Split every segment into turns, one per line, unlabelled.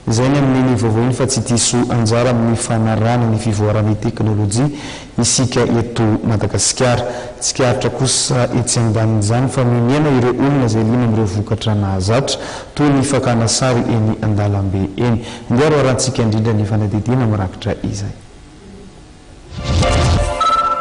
Izay ny amin'ny ny vaovao iny fa tsy diso anjara amin'ny fanarahana ny fivoaran'ny teknolojia isika eto Madagasikara. Tsikaritra kosa etsy ambanin'izany fa mihena ireo olona izay liana amin'ireo vokatra nahazatra toy ny fakana sary eny an-dalambe eny. Andeha roarantsika indrindra ny fanadihadiana mirakitra izay.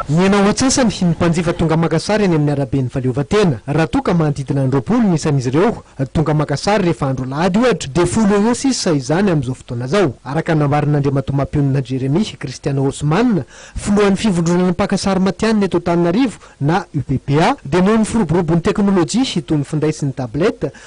Mihena ho antsasany ny mpanjifa tonga maka sary eny amin'ny araben'i Fahaleovantena. Raha toa ka manodidina ny roapolo ny isan'izy ireo tonga maka sary rehefa andro alahady, ohatra, dia folo eo eo sisa izany amin'izao fotoana izao, araka ny nambaran'Andriamatoa Mapionona Jeremie Christian Osman, filohan'ny Fivondronana Mpaka Sary Matihanina eto Antananarivo na UPPA, dia noho ny firoborobon'ny teknolojia toy ny finday sy ny tablette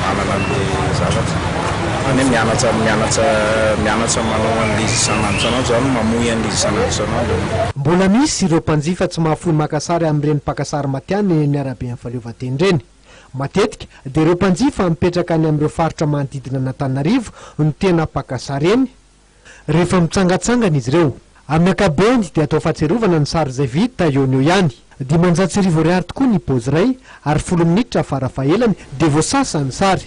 manana ny zavatra zany hoe mianatra mianatra mianatra manao an'ilay izy isan'andro isan'andro zany mamoy an'ilay izy isan'andro isan'andro ianao. Mbola misy
ireo mpanjifa tsy mahafoy maka sary amin'ireny mpaka sary matihanina eny amin'ny araben'ny Fahaleovantena ireny. Matetika dia ireo mpanjifa mipetraka any amin'ireo faritra manodidina an'Antananarivo no tena mpaka sary eny, rehefa mitsangatsangana izy ireo. Amin'ny ankapobeny dia atao fahatsiarovana ny sary izay vita eo no eo ihany. Dimanjato sy arivo ariary tokoa ny pôzy iray ary folo minitra fara fahelany dia voasasa ny sary.